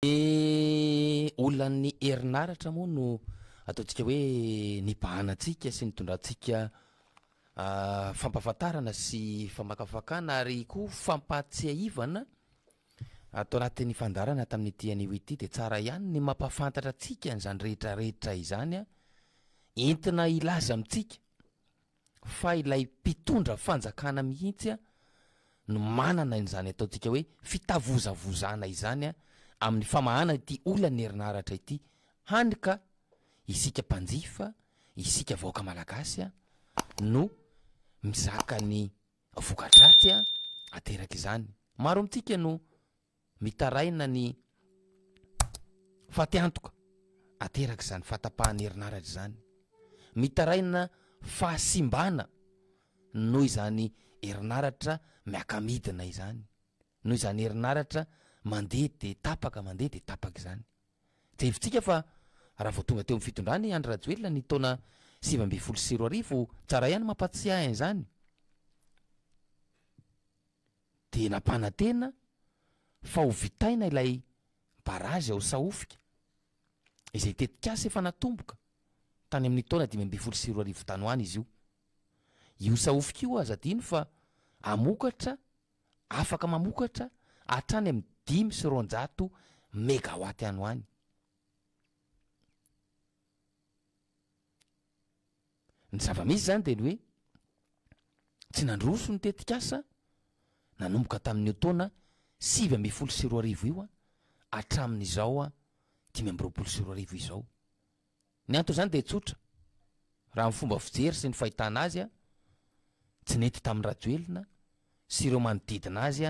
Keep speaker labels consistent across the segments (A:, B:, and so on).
A: Ny olan'ny herinaratra moa no ataontsika hoe nibahana antsika sy nitondrantsika fampahafantarana sy famakafakana ary koa fampahatsiahivana ato anatin'ny fandaharana tamin'ity anio ity dia tsara ihany ny mampahafantatra antsika an'izany rehetrarehetra izany entina hilaza amintsika fa ilay mpitondra fanjakana mihitsy no manana an'izany ataontsika hoe fitavozavozana izany amin'ny famahana ity olan'ny herinaratra ity, hany ka isika mpanjifa, isika vahoaka malagasy no mizaka ny voka-dratsy aterak'izany. Maro amintsika no mitaraina ny fatiantoka aterak'izany fatapahan'ny herinaratra izany, mitaraina fahasimbana noho izany herinaratra miaka-midina izany, noho izany herinaratra mandeha dia tapaka, mandeha dia tapaka izany. Jerevintsika fa raha vao tonga teo amin'ny fitondrana i Andry Rajoelina ny taona sivy ambin'ny folo sy roa arivo, tsara ihany ny mampatsiahy an'izany, dia nampanantena fa ho vitaina ilay barazy ao Sahofika, izay tetikasa efa natomboka tany amin'ny taona dimy ambin'ny folo sy roa arivo tany ho any izy io. Io Sahofika io aza adino fa hamokatra, afaka mamokatra hatrany amin'ny dimy sy roanjato megawatt any ho any. Ny zava-misy izany dia ny hoe tsy nandroso ny tetikasa nanomboka tamin'io taona sivy ambin'ny folo sy roa arivo io hatramin'izao dimy amby roapolo sy roa arivo izao. Ny anton'izany dia tsotra, raha ny fomba fijery sy ny fahitana azy, tsy nety tamin'i Rajoelina sy ireo manodidina azy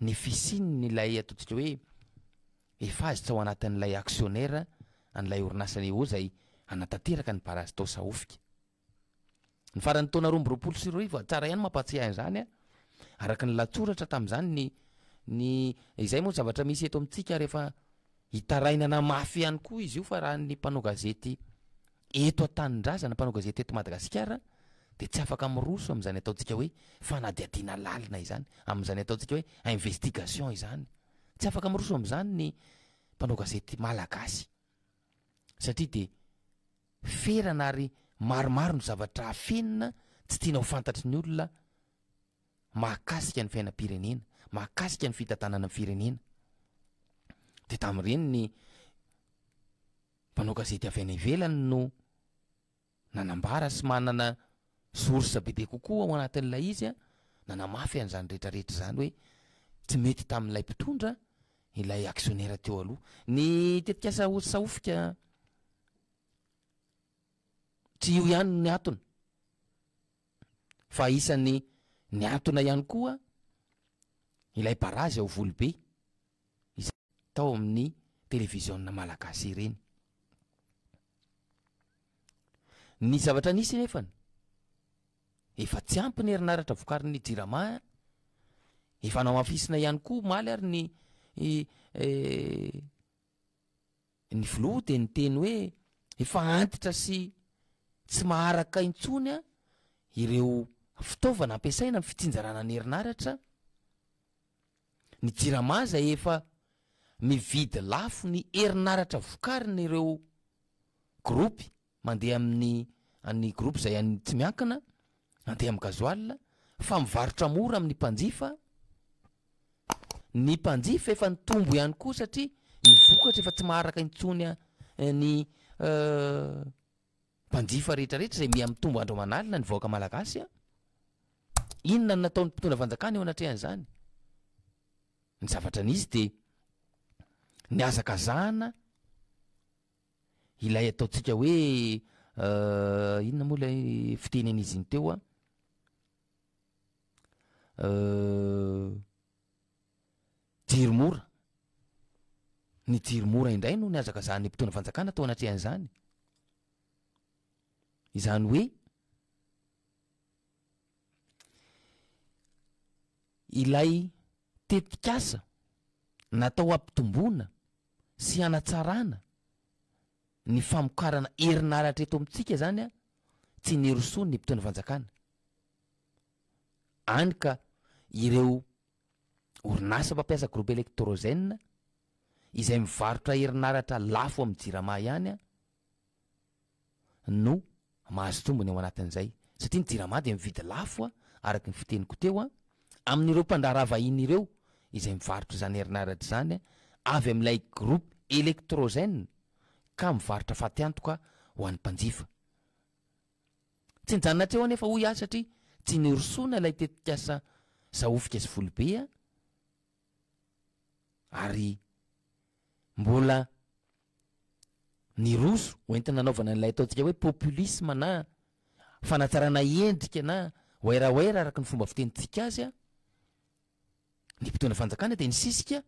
A: ny fisian'ilay ataontsika hoe efazy tao anatin'ilay aksionera an'ilay orinasany eo izay hanatanteraka ny barazy tao Sahofika. Ny faran'ny taona roa amby roapolo sy roa arivo, tsara ihany mampahatsiahy an'izany an, araka ny lahatsoratra tamin'izany ny ny izay moa zavatra misy eto amintsika rehefa hitarainana mafy ihany koa izy io fa raha ny mpanao gazety Eto an-tanindrazana, mpanao gazety eto Madagasikara dia tsy afaka miroso amin'izany ataontsika hoe fanadihadiana lalina izany, amin'izany ataontsika hoe investigation izany. Tsy afaka miroso amin'izany ny mpanao gazety malagasy satria dia ferana ary maromaro ny zavatra afenina tsy tiana ho fantatry ny olona mahakasika ny fiainam-pirenena, mahakasika ny fitantanana ny firenena. Dia tamin'ireny ny Mpanao gazety avy any ivelany no nanambara sy manana source bebe kokoa ao anatin'ilay izy nanamafy an'izany retraretra izany hoe tsy mety tamin'ilay mpitondra ilay actionnaire teo aloha. Ny tetikasa Sahofika tsy io ihany no niantona fa isan'ny niantona ihany koa ilay barazy ao Volobe. izay tao amin'ny televiziona malagasy ireny. Ny zavatra nisy anefany, efa tsy ampy ny herinaratra vokarin'ny jirama, efa namafisina ihany koa omaly ary ny ny filoha dia niteny hoe efa antitra sy tsy maharaka intsony ireo fitaovana ampiasaina amin'ny fitsinjarana ny herinaratra, Ny Jirama izay efa mividy lafo ny herinaratra vokarin' ireo gropy mandeha amin' ny an'ny gropy izay any tsy miankina, mandeha amin'ny gazoala, fa mivarotra mora amin'ny mpanjifa. Ny mpanjifa efa nitombo ihany koa satria ny vokatra efa tsy maharaka intsony ny mpanjifa rehetra rehetra izay miha mitombo andro aman'alina ny vahoaka malagasy a, inona no nataon'ny mpitondra fanjakana eo anatrehan'izany? Ny zavatra nisy dia nihazakazahana ilay ataontsika hoe inona moa ilay fiteny an'izy iny teo an, Jiro mora, Ny jiro mora indray no nihazakazahan'ny mpitondra fanjakana tao anatrehan'izany. Izany hoe, ilay tetikasa natao hampitomboana sy hanatsarana ny famokarana herinaratra eto amintsika izany an, tsy nirosoan'ny mpitondra fanjakana. Hany ka ireo orinasa mpampiasa groupe Electrogène izay mivarotra herinaratra lafo amin'ny Jirama ihany no mahazo tombony ao anatin'izay satria ny Jirama dia mividy lafo araka ny fiteniko teo amin'ireo mpandraharaha vahiny ireo izay mivarotra izany herinaratra izany avy amin'ilay groupe Electrogène ka mivarotra fatiantoka ho an'ny mpanjifa. Tsy nijanona teo anefa hoy aho satria tsy nirosoana ilay tetikasa Sahofika sy Folobe a! ary mbola niroso ho entina anaovana an'ilay ataontsika hoe populisme na fanatsarana endrika na wairawaira araka ny fomba fitenintsika azy a! ny mpitondra fanjakana dia nisisika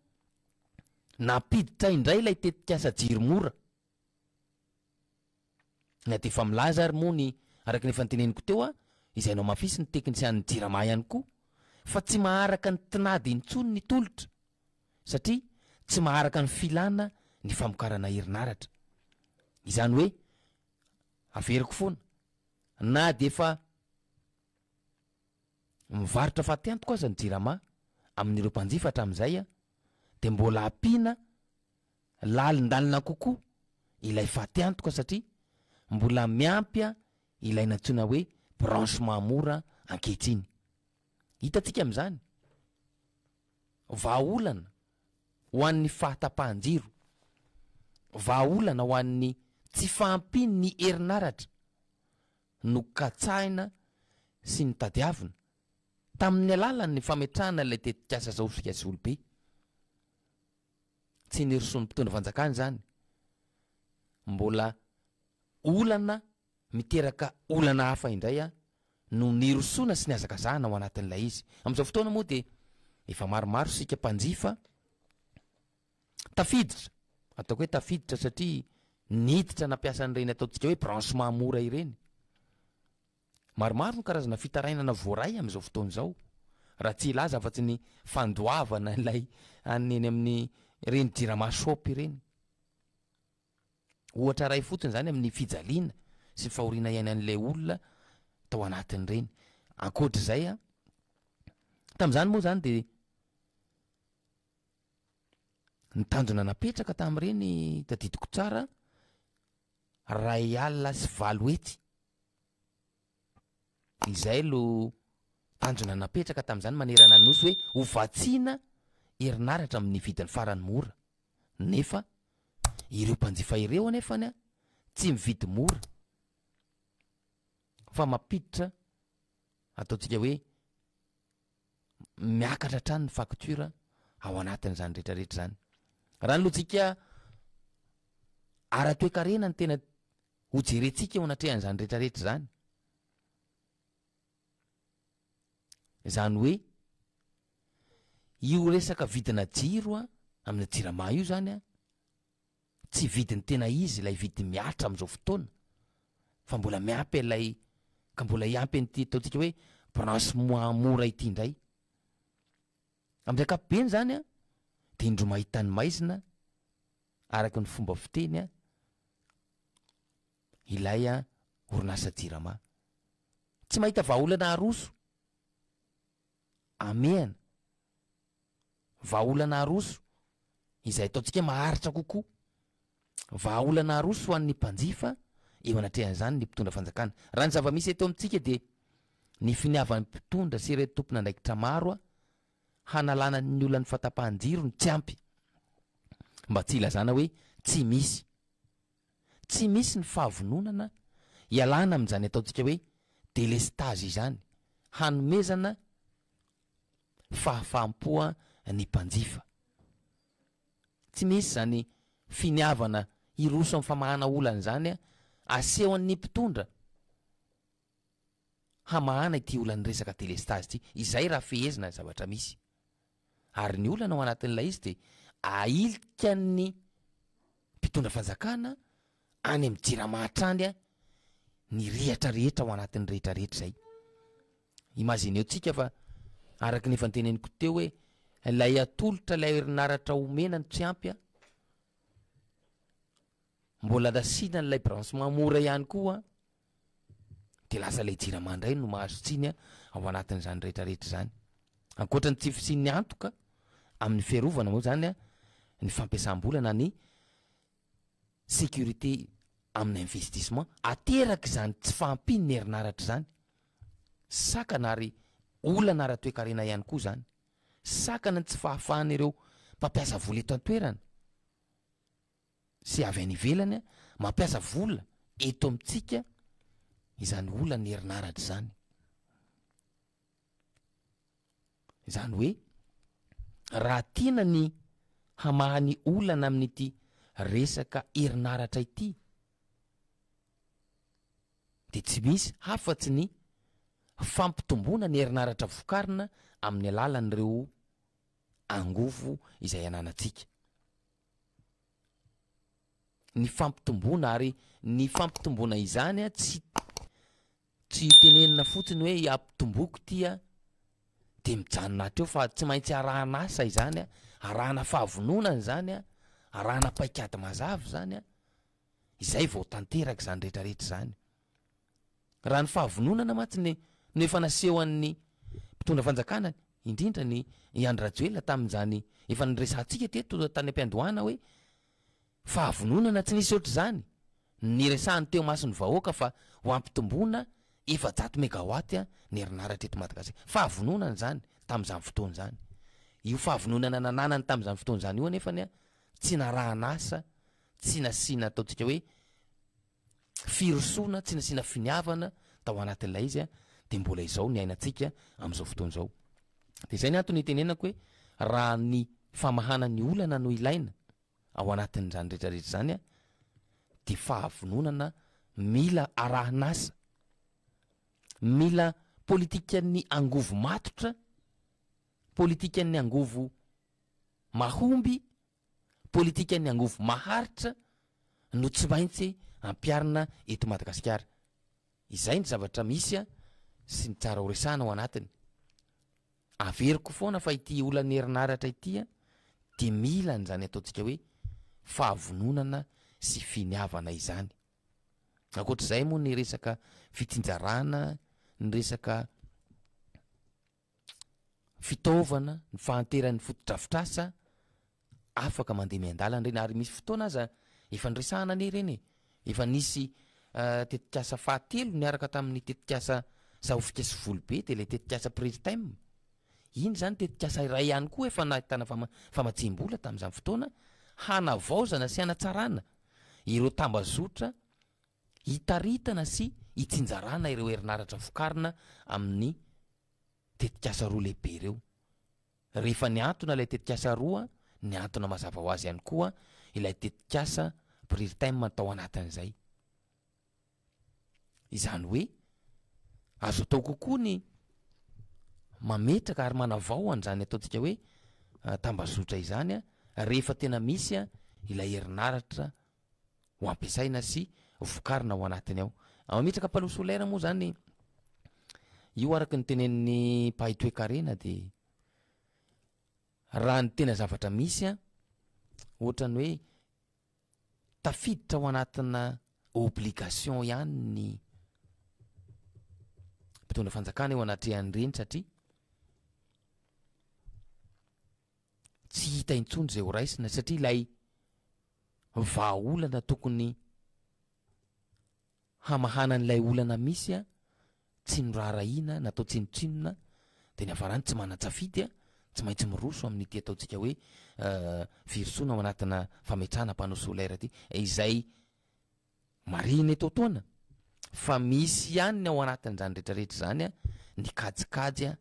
A: nampiditra indray ilay tetikasa Jiro mora Na dia efa milaza ary moa ny, araka ny efa noteneniko teo, izay namafisin'ny teknisianin'ny Jirama ihany koa, fa tsy maharaka ny tinady intsony ny tolotra, satria tsy maharaka ny filana ny famokarana herinaratra. Izany hoe, averiko foana, na dia efa mivarotra fatiantoka aza ny Jirama amin'ireo mpanjifa hatramin'izay, dia mbola ampiana Lalindalina kokoa ilay fatiantoka satria mbola miampy ilay nantsoina hoe branchement mora ankehitriny. Hitantsika amin'izany vahaolana ho an'ny fahatapahan-jiro, vahaolana ho an'ny tsy fahampian'ny herinaratra nokatsahina sy notadiavina tamin'ny alalan'ny fametrahana ilay tetikasa Zaosika sy Olobe. Tsy nirosoan'ny mpitondra fanjakana izany. Mbola olana miteraka olana hafa indray no nirosoana sy nihazakazahana ao anatin'ilay izy. Amin'izao fotoana moa dia efa maromaro isika mpanjifa tafiditra, ataoko hoe tafiditra satria niditra nampiasa an'ireny ataontsika hoe branchement mora ireny. Maromaro ny karazana fitarainana voaray amin'izao fotoana izao, raha tsy hilaza afa-tsy ny fandoavana ilay an'ny eny amin'ny ireny jirama shop ireny. Ohatra iray fotsiny izany amin'ny fijaliana sy fahoriana iainan'ilay olona tao anatin'ireny. Ankoatr'izay an, tamin'izany moa izany dia ny tanjona napetraka tamin'ireny, tadidiko tsara, Iray alina sy valo hetsy. Izay no tanjona napetraka tamin'izany manerana ny Nosy hoe ho vatsiana herinaratra amin'ny vidiny farany mora. Nefa ireo mpanjifa ireo anefa tsy mividy mora fa mampiditra ataontsika hoe miakatra hatrany ny facture ao anatin'izany rehetra rehetra izany. Raha ny lojikaa ara-toekarena ny tena ho jerentsika eo anatrehan'izany rehetra rehetra izany, izany hoe io resaka vidina jiro a, amina jirama io izany a, Tsy vidiny tena izy ilay vidiny mihatra amin'izao fotoana fa mbola miampy ilay ka mbola hiampy an'ity ataontsika hoe branche moins mora ity indray. Amin'ny ankapobeny izany an, dia indro mahita ny maizina araka ny fomba fiteny an, ilay an, orinasa jirama. Tsy mahita vahaolana haroso, hamehana. Vahaolana aroso izay ataontsika maharitra kokoa. Vahaolana aroso ho an'ny mpanjifa eo anatrehan'izany ny mpitondra fanjakana. Raha ny zava-misy eto amintsika dia ny finiavan'ny mpitondra sy ireto tompon'andraikitra maro hanalana ny olan'ny fahatapahan-jiro no tsy ampy. Mba tsy hilazana hoe tsy misy. Tsy misy ny fahavononana hialana amin'izany ataontsika hoe délestage izany, hanomezana fahafaham-po ny mpanjifa. Tsy misy izany finiavana hiroso amin'ny famahana olana izany, asehon'ny mpitondra hamahana ity olan'ny resaka delestazy ity, izay raha fehezina ny zavatra misy. Ary ny olana ao anatin'ilay izy dia ahilikan'ny mpitondra fanjakana any amin'ny jirama hatrany ny rihatra rehetra ao anatin'ny rehetra rehetra izay. Imagineo tsika fa araka ny efa noteneniko teo hoe ilay atolotra ilay herinaratra omena ny tsy ampy an, mbola nasiana an'ilay branchement mora ihany koa an, dia lasa ilay jirama indray no mahazo tsiny an, ao anatin'izany rehetrarehetra izany. Ankoatra ny tsy fisian'ny antoka amin'ny fiarovana moa izany an, ny fampiasam-bola na ny sécurité amin'ny investissement ateraka izany tsy fahampian'ny herinaratra izany, sakana ary olana ara-toekarena ihany koa izany, sakana ny tsy fahafahan'ireo mpampiasa vola eto an-toerana sy avy any ivelany mampiasa vola eto amintsika izany olan'ny herinaratra izany. Izany hoe raha tiana ny hamaha ny olana amin'ity resaka herinaratra ity dia tsy misy hafatsy ny fampitomboana ny herinaratra vokarina amin'ny alalan'ireo angovo izay ananantsika. Ny fampitomboana ary ny fampitomboana izany tsy Tsy tenenina fotsiny hoe ampitomboiko ity an, dia mijanona hatreo fa tsy maintsy arahana asa izany an, arahana fahavononana izany an, arahana paikady mazava izany an, izay vao tanteraka izany rehetra rehetra izany. Raha ny fahavononana mantsy ny no efa nasehon'ny mpitondra fanjakana indrindra ny i Andry Rajoelina tamin'izany efa niresahantsika teto tany am-piandohana hoe Fahavononana tsy nisy ohatr'izany no niresahany teo imason'ny vahoaka fa ho hampitomboana efajato megawatt ny herinaratra eto Madagasikara. Fahavononana izany tamin'izany fotoana izany. Io fahavononana nananany tamin'izany fotoana izany io anefany tsy narahan'asa, tsy nasiana ataontsika hoe firosoana, tsy nasiana finiavana tao anatin'ilay izy dia mbola izao niainantsika amin'izao fotoana izao. Dia izay ny antony itenenako hoe raha ny famahana ny olana no ilaina, ao anatin'izany rehetrarehetra izany a dia fahavononana mila arahin'asa, mila politikan'ny angovo matotra, politikan'ny angovo mahomby, politikan'ny angovo maharitra no tsy maintsy ampiharina eto Madagasikara. Izay ny zavatra misy sy ny tsara horesahana ao anatiny. Averiko foana fa ity olan'ny herinaratra ity dia mila an'izany ataontsika hoe fahavononana sy finiavana izany. Ankoatr'izay moa ny resaka fitsinjarana, ny resaka. fitaovana, ny fahanteran'ny fotodrafitrasa afaka mandeha miandalana ireny ary misy fotoana aza efa niresahana anie ireny e, efa nisy tetikasa fahatelo niaraka tamin'ny tetikasa Sahofika sy Volobe dia ilay tetikasa Priritem, iny izany tetikasa iray ihany koa efa nahitana fama- famatsiam-bola tamin'izany fotoana hanavaozana sy hanatsarana ireo tambazotra hitaritana sy hitsinjarana ireo herinaratra vokarina amin'ny tetikasa roa lehibe ireo. Rehefa nihantona ilay tetikasa roa, nihantona mazava ho azy ihany koa ilay tetikasa Prirtem tao anatin'izay. Izany hoe, azo atao kokoa ny mametraka ary manavao an'izany ataontsika hoe tambazotra izany rehefa tena misy ilay herinaratra ho ampiasaina sy vokarina ao anatiny ao. Mametraka panneau solaire moa zany io araka ny tenenin'ny mpahay toekarena de raha ny tena zavatra misy a, ohatran'ny hoe tafiditra ao anatina obligation ihany ny mpitondra fanjakana eo anatrehan'ireny satria tsy hita intsony izay ho raisina satria ilay vahaolana tokony hamahana an'ilay olana misy a, tsy noraharahiana, natao tsinontsinona, dia ny hafarany tsy manan-tsafidy a, tsy maintsy miroso amin'ity ataontsika hoe firosoana ao anatina fametrahana panneau solaire ity, izay marihina eto an-toana fa misy ihany ny ao anatin'izany rehetra rehetra izany a, ny kajikajy a,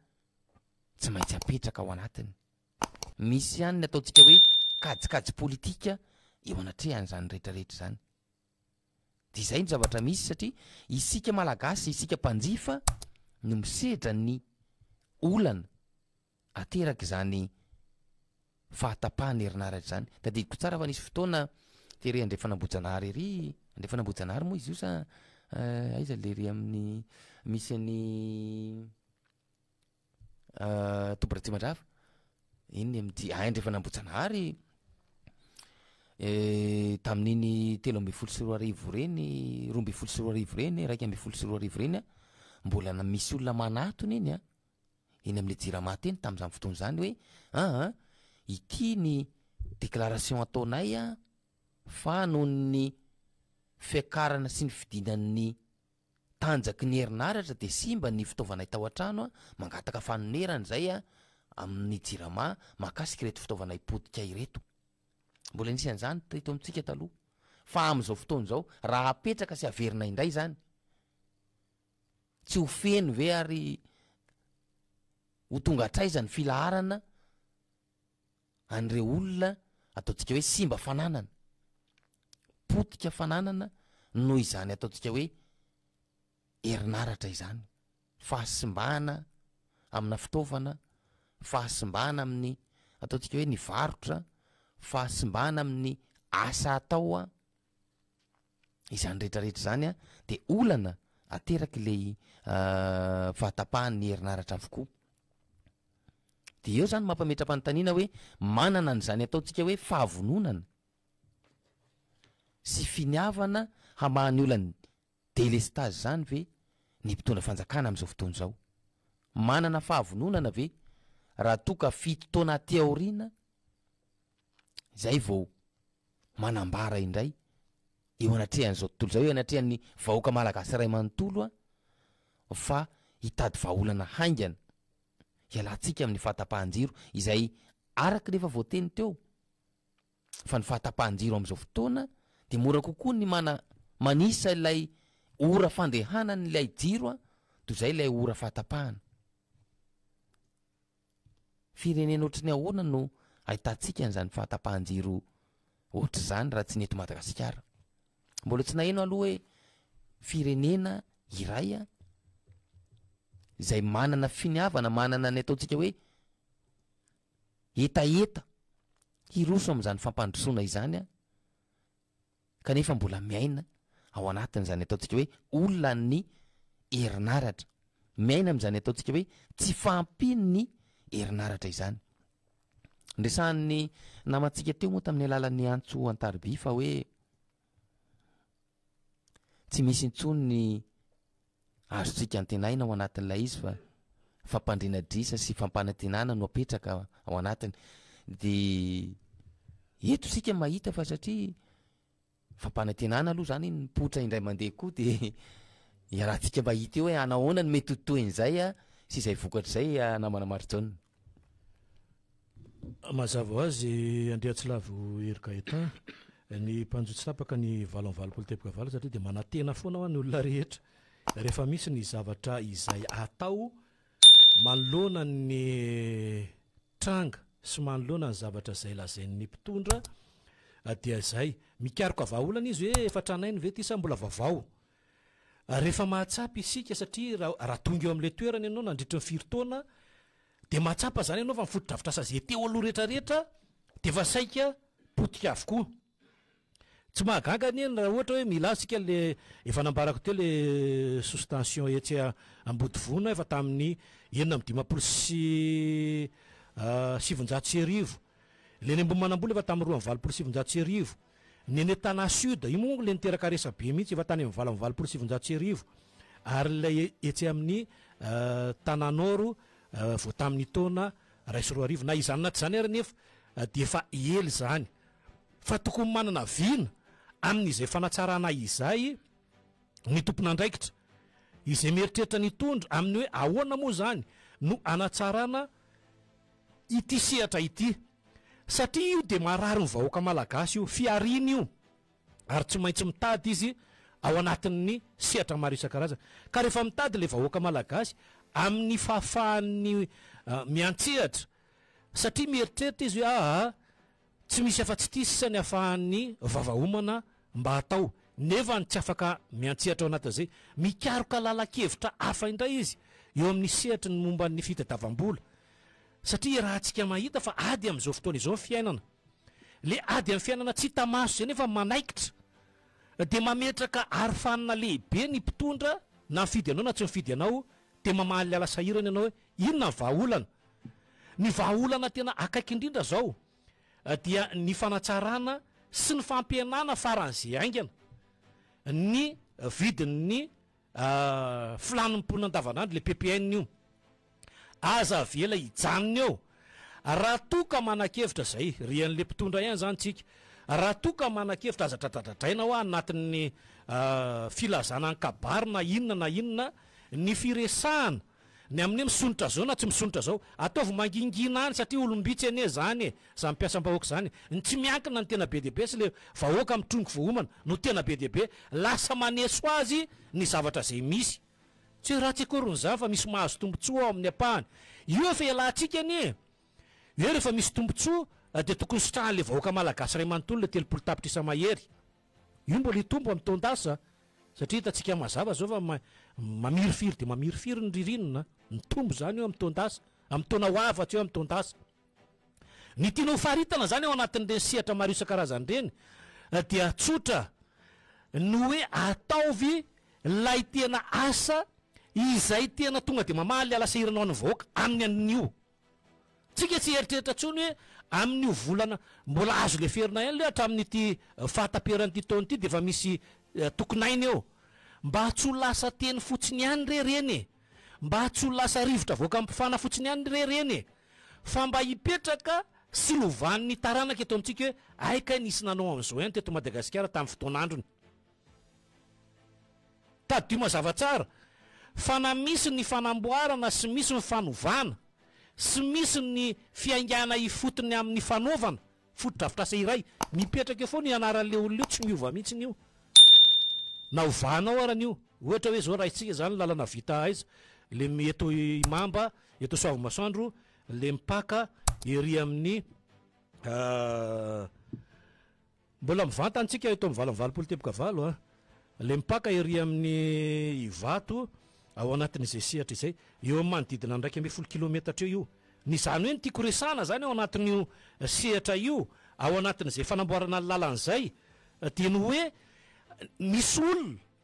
A: tsy maintsy apetraka ao anatiny. Misy ihany ny ataontsika hoe kajikajy politika eo anatrehan'izany rehetra rehetra izany. Dia izay no zavatra misy satria isika Malagasy, isika mpanjifa no misedra ny olana aterak'izany fahatapahan'ny herinaratra izany. Tadidiko tsara fa nisy fotoana tery Andrefan'Ambohijanahary ery, Andrefan'Ambohijanahary moa izy io sa aiza lery amin'ny misy an'i Toby Ratsimandrava, iny ny MJ Aindrefana Ambohijanahary, tamin'iny telo ambin'ny folo sy roa arivo ireny, roa ambin'ny folo sy roa arivo ireny, iraika ambin'ny folo sy roa arivo ireny an, mbola na- misy olona manatona iny an, eny amin'ny Jirama teny tamin'izany fotoana izany hoe an an, ity ny déclaration ataonay an, fa noho ny fiakarana sy ny fidinan'ny. tanjaky ny herinaratra dia simba ny fitaovanay tao an-trano aho mangataka fanonerana izay amin'ny jirama mahakasika ireto fitaovanay potika ireto. Mbola nisy an'izany teto amintsika taloha fa amin'izao fotoana izao raha apetraka sy averina indray izany tsy ho feno ve ary ho tonga hatraiza ny filaharana an'ireo olona ataontsika hoe simba fananana, potika fananana noho izany ataontsika hoe herinaratra izany, fahasimbana amina fitaovana, fahasimbana amin'ny ataontsika hoe ny varotra, fahasimbana amin'ny asa atao. Izany rehetra rehetra izany an dia olana ateraky ilay fahatapahan'ny herinaratra avokoa. Dia eo izany mampametra-panontaniana hoe manana an'izany ataontsika hoe fahavononana sy finiavana hamaha ny olany Delestazy zany ve ny mpitondra fanjakana amin'izao fotoana izao? Manana fahavononana ve raha toa ka fito taona aty aoriana izay vao manambara indray eo anatrehan'izao tontolo izao, eo anatrehan'ny vahoaka malagasy iray manontolo fa hitady vahaolana haingana hialantsika amin'ny fahatapahan-jiro izay araka ny efa voateny teo. fa ny fahatapahan-jiro amin'izao fotoana dia mora kokoa ny mana manisa ilay ora fandehanan'ilay jiro a toy izay ilay ora fahatapahana. Firenena ohatry ny ahoana no ahitantsika an'izany fahatapahan-jiro ohatry izany raha tsy ny eto Madagasikara? Mbola tsy naheno aloha hoe firenena iray a izay manana finiavana, manana ny ataontsika hoe hetaheta hiroso amin'izany fampandrosoana izany aho kanefa mbola miaina ao anatin'izany ataontsika hoe olan'ny herinaratra, miaina amin'izany ataontsika hoe tsy fahampian'ny herinaratra izany. Niresahan'ny namantsika teo moa tamin'ny alalan'ny antso an-tariby fa hoe Tsy misy intsony ny azontsika antenaina ao anatin'ilay izy fa fampandriana adrisa sy fampanantenana no apetraka ao anatiny. Dia eto isika mahita fa satria fampanantenana aloha izany ny mipoitra indray mandeha koa dia iarahantsika mahita eo hoe hanahoana no mety ho toy an'izay sy izay vokatra izay namana Marijaona.
B: Mazava ho azy, Andriatsilavo Hery Gaëtan, ny mpanjo tsy tapaka ny valo amin'ny valopolo teboka valo satria dia manantena foana hoa ny olona rehetra rehefa misy ny zavatra izay atao manoloana ny tranga sy manoloana ny zavatra izay lazain'ny mpitondra dia izay mikaroka vahaolana izy hoe efa tranainy ve ity sa mbola vaovao Rehefa mahatsapa isika satria raha tonga eo amin'ilay toerana ianao nandritry ny firy taona dia mahatsapa izany ianao fa ny fotodrafitrasa izay teo aloha rehetrarehetra dia efa saika potika avokoa. Tsy mahagaga anie ny raha ohatra hoe mila azy isika ilay efa nambarako teo ilay sous-tension etsy Ambodivona efa tamin'ny enina amby dimampolo sy sivinjato sy arivo. Ilay eny Ambohimanambola efa tamin'ny roa amby valopolo sy sivinjato sy arivo. Nenetana Sud, io moa ilay niteraka resabe mihitsy, efa tany amin'ny valo amby valopolo sy sivinjato sy arivo, ary ilay etsy amin'ny Tananoro vao tamin'ny taona iray sy roa arivo, na izany na tsy izany ary anefa dia efa ela izany, fa tokony manana vina amin'izay fanatsarana izay ny tompon'andraikitra, izay mieritreritra ny hitondra, amin'ny hoe ahoana moa izany no hanatsarana ity sehatra ity satria io dia marary ny vahoaka malagasy io, fihariana io ary tsy maintsy mitady izy ao anatin'ny sehatra maro isan-karazany ka rehefa mitady ilay vahoaka malagasy amin'ny fahafahan'ny miantsehatra satria mieritreritra izy hoe aa Tsy misy afa-tsy ity sisa ny afahan'ny vava homana mba hatao, nefa ny tsy afaka miantsehatra ao anatin'izay, mikaroka lalan-kevitra hafa indray izy eo amin'ny sehatry ny momba ny fitadiavam-bola. Satria iarahantsika mahita fa ady amin'izao fotoana izao ny fiainana. Ilay ady amin'ny fiainana tsy hita maso izay nefa manaikitra, dia mametraka arofanina lehibe ny mpitondra na mifidy anao na tsy mifidy anao, dia mamaly ala sahirana ianao hoe inona ny vahaolana? Ny vahaolana tena akaiky indrindra izao dia ny fanatsarana sy ny fampihenana faran'izay haingana ny vidin'ny filàn'ny mponina andavanandro, ilay PPN io. Aza avela hijanona eo. Raha toa ka manan-kevitra, izay ry an'ilay mpitondra ihany izany tsika, raha toa ka manan-kevitra aza dradradradraina hoa anatin'ny filazana ny kabary na inona na inona ny firesahana Ny amin'ny hoe misondrotra zao na tsy misondrotra zao, ataovy mangingina any satria olom-bitsy anie zany e, zany mpiasam-bahoaka zany, ny tsy miankina ny tena be dia be sy le vahoaka mitrongy voaomana no tena be dia be, lasa maneso azy ny zavatra zay misy. Tsy hoe ratsy akoriny zany fa misy mahazo tombotsoa ao amin'ny ampahany. Io efa ialatsika anie e! Hoe rehefa misy tombotsoa dia tokony sitrahan'le vahoaka malagasy ray manontolo le telopolo tapitrisa mahery. Io mbola hitombo amin'ny taon-dasa satria hitantsika mazava izao fa mamirifiry dia mamirifiry ny ririnina, mitombo izany eo amin'ny taon-dasa, amin'ny taona ho avy hatreo amin'ny taon-dasa. Ny tiana ho faritana izany ao anatin'ireny sehatra maro isan-karazany ireny dia tsotra ny hoe ataovy ilay tena asa izay tena tonga dia mamaha ilay hala sahirana ho an'ny vahoaka amin'ny anio. Tsika tsy hieritreritra intsony hoe amin'io volana mbola azo leferina ihany ilay hatramin'ity fahataperan'ity taona ity dia efa misy tokin'aina eo. Mba tsy ho lasa teny fotsiny ihany re ireny e! Mba tsy ho lasa rivotra avoaka ampifana fotsiny ihany re ireny e! Fa mba hipetraka sy lovan'ny taranaka eto amintsika hoe hay kay nisy nanao an'izao ihany teto Madagasikara tamin'ny fotoan'androny. Tadidio mazava tsara fa na misy ny fanamboarana sy misy ny fanovana sy misy ny fiaingàna ifotony amin'ny fanaovana fotodrafitrasa iray, mipetraka eo foana io anaran'ilay olona io, tsy miova mihitsy io na ovanao arany io. Ohatra hoe izao raisintsika izany lalana vita aiza, ilay eto Imamba, eto Soavimasoandro, ilay mipaka ery amin'ny. Mbola mivantana tsika eto amin'ny valo amby valopolo teboka valo a! le mpaka ery amin'ny Ivato ao anatin'izay sehatra izay, eo amin'ny manodidina ny iraika ambin'ny folo kilometatra eo io. Ny izany hoe ny tiako resahana izany ao anatin'io sehatra io, ao anatin'izay fanamboarana ny lalana izay dia ny hoe misy olona,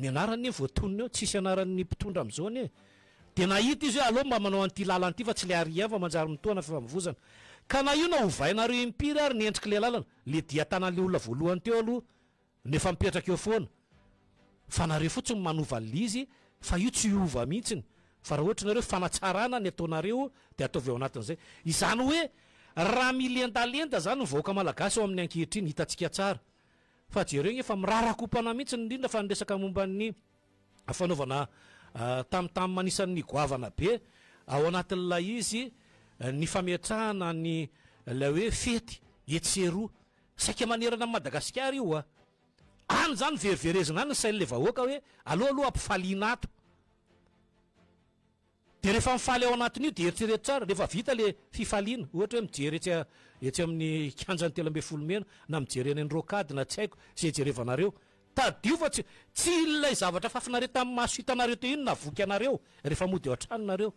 B: Ny anarany anie voatonona eo, tsisy anaran'ny mpitondra amin'izao anie e! Dia nahita izy hoe aleo mba manao an'ity lalana ity fa tsy ilay ary ihany vao manjary mitoha na fifamovoizana. Ka na io na ovainareo impiry ary ny endrik'ilay lalana, ilay diha tanan'ilay olona voalohany teo aloha no efa mipetraka eo foana. Fa nareo fotsiny no manova an'ilay izy fa io tsy hiova mihitsiny. Fa raha ohatra ianareo fanatsarana ny ataonareo dia ataovy ao anatin'izay. Izany hoe raha milendalenda izany ny vahoaka malagasy ao amin'ny ankehitriny, hitantsika tsara. Fa jereo igny efa mirara kopana mihitsiny indrindra fa ny resaka momba ny fanaovana tam tam anisan'ny goavana be ao anatin'ilay izy ny fametrahana ny ilay hoe fety etsy sy eroa saika manerana an'i Madagasikara io a! any izany no veriverezina any ny sain'ilay vahoaka hoe aleo aloha ampifaliana ato. Dia rehefa mifaly ao anatin'io dia eritrereto tsara, rehefa vita ilay fifaliana, ohatra hoe mijery etsy etsy amin'ny kianjan'ny telo ambin'ny folo mey na mijery eny amin'ny rocade na tsy haiko izay jerevanareo, tadidio fa tsy tsy ilay zavatra fafinareo tamin'ny maso hitanareo teo iny na voky anareo rehefa mody ao an-trano nareo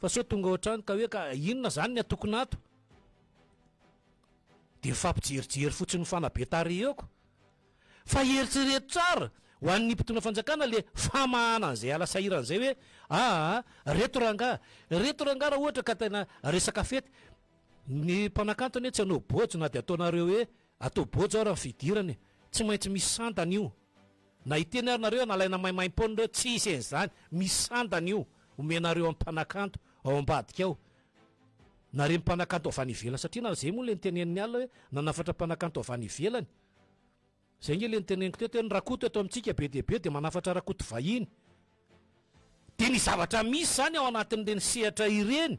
B: fa sao tonga ao an-trano ka hoe ka inona izany ny atokona ato? Dia mifampijerijery fotsiny mifanabe tarehy eo ko. Fa eritrereto tsara ho an'ny mpitondra fanjakana le famahana an'izay ala sahirana izay hoe aa reto rangaha reto rangaha raha ohatra ka tena resaka fety ny mpanakanto anie tsy hanao bojo na de ataonareo hoe atao bojo ara ny fidirana e tsy maintsy misy sandany io na hiteny ary nareo nalaina maimaimpoana reo tsy hisy an'izany misy sandany io omenareo amin'ny mpanakanto ao ambadika ao na reny mpanakanto avy any ivelany satria na zay moa le niteneniny alina hoe nanafatra mpanakanto avy any ivelany Zay nge le niteneniko teto hoe ny rakoto eto amintsika be dia be dia manafatra rakoto vahiny. Dia ny zavatra misy zany ao anatin'ireny sehatra ireny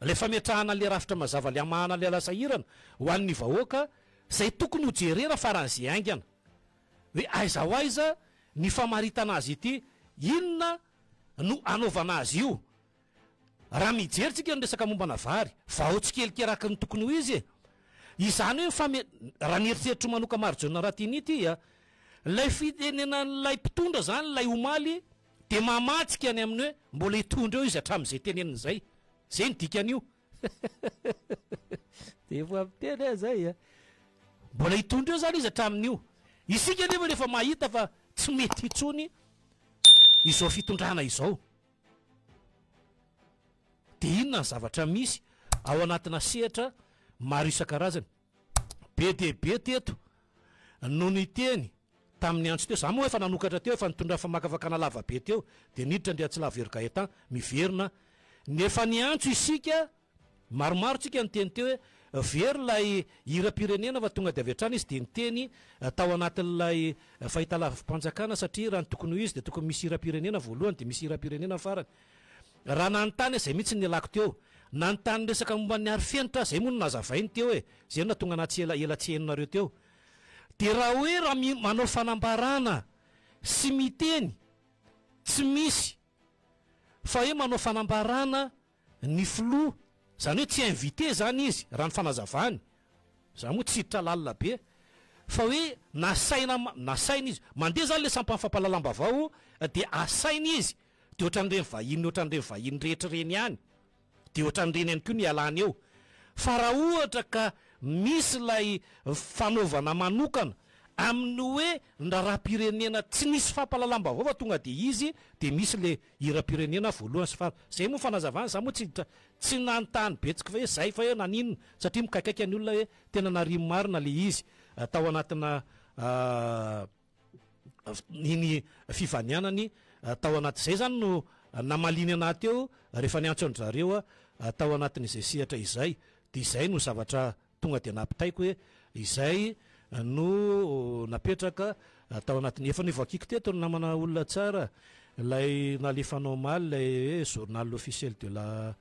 B: ilay fametrahana an'ilay rafitra mazava ilay hamahana ilay asa sahirana ho an'ny vahoaka izay tokony ho jerena faran'ny ze haingana hoe aiza ho aiza ny famaritana azy ity, inona no anaovana azy io. Raha mijery tsika ny resaka mombana vary, vao tsikelikely araka ny tokony ho izy e! Izany hoe fame-, raha ny eritreritro manoka Marjona Ratini ity a! Ilay fitenenan'ilay mpitondra izany ilay omaly dia mamantsika any amin'ny hoe mbola hitondra eo izy hatramin'izay teneniny izay. Izay ny dikan'io. Dia efa miteny aho izay a! Mbola hitondra eo izany izy hatramin'io. Isika anefa rehefa mahita fa tsy mety intsony izao fitondrana izao. Dia inona ny zavatra misy ao anatina sehatra maro isan-karazany? Be dia be teto no niteny tamin'ny antso teo. Za moa efa nanokatra teo, efa nitondra famakafakana lava be teo, dia niditra Andriatsilavo Hery Gaëtan miverina, ny efa niantso isika Maromaro tsika niteny teo hoe very ilay hiram-pirenena fa tonga dia avy hatrany izy dia niteny tao anatin'ilay fahitalavi-panjakana satria raha ny tokony ho izy dia tokony misy hiram-pirenena voalohany dia misy hiram-pirenena farany. Raha nanontany aho izay mihitsy no nialako teo. Nanontany ny resaka momba ny arifenitra aho, izay moa no nazavainy teo e! Izay no nahatonga anah tsy ela ela tsy henonareo teo. Dia raha hoe raha mi manao fanambarana sy miteny tsy misy fa hoe manao fanambarana Ny filoha, izany hoe tsy invité izany izy, raha ny fanazavany, za moa tsy hiditra lalina be, fa hoe nasaina, nasaina izy, mandeha izany ilay sampan'ny fampahalalam-bavao dia asaina izy, dia ohatran'ireny vahiny, ohatran'ireny vahiny rehetra ireny ihany, dia ohatran'ireny ihany koa ny ialany eo, fa raha ohatra ka misy ilay fanaovana manokana amin'ny hoe ny raharaham-pirenena tsy nisy fampahalalam-bavao fa tonga dia izy dia misy ilay hiram-pirenena voalohany sy faharoa. Zay moa fanazavana, za moa tsy tsy nanontany betsky hoe zay fa hoe naninona satria mikaikaika ny olona hoe tena nariany marina le izy tao anatina iny fivanianany tao anaty zay zany no namaliany anah teo rehefa niantso an-dry zareo tao anatin'izay sehatra izay de zay no zavatra Tonga dia nampitaiko hoe izay no napetraka tao anatin'ny, efa nivoakiko teto ny namana olona tsara, ilay nalefanao omaly ilay hoe journal officiel de la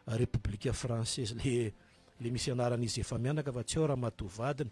B: République française, ilay ilay misy anaran'izy efa-mianaka fa tsy ao ramatoa vadiny.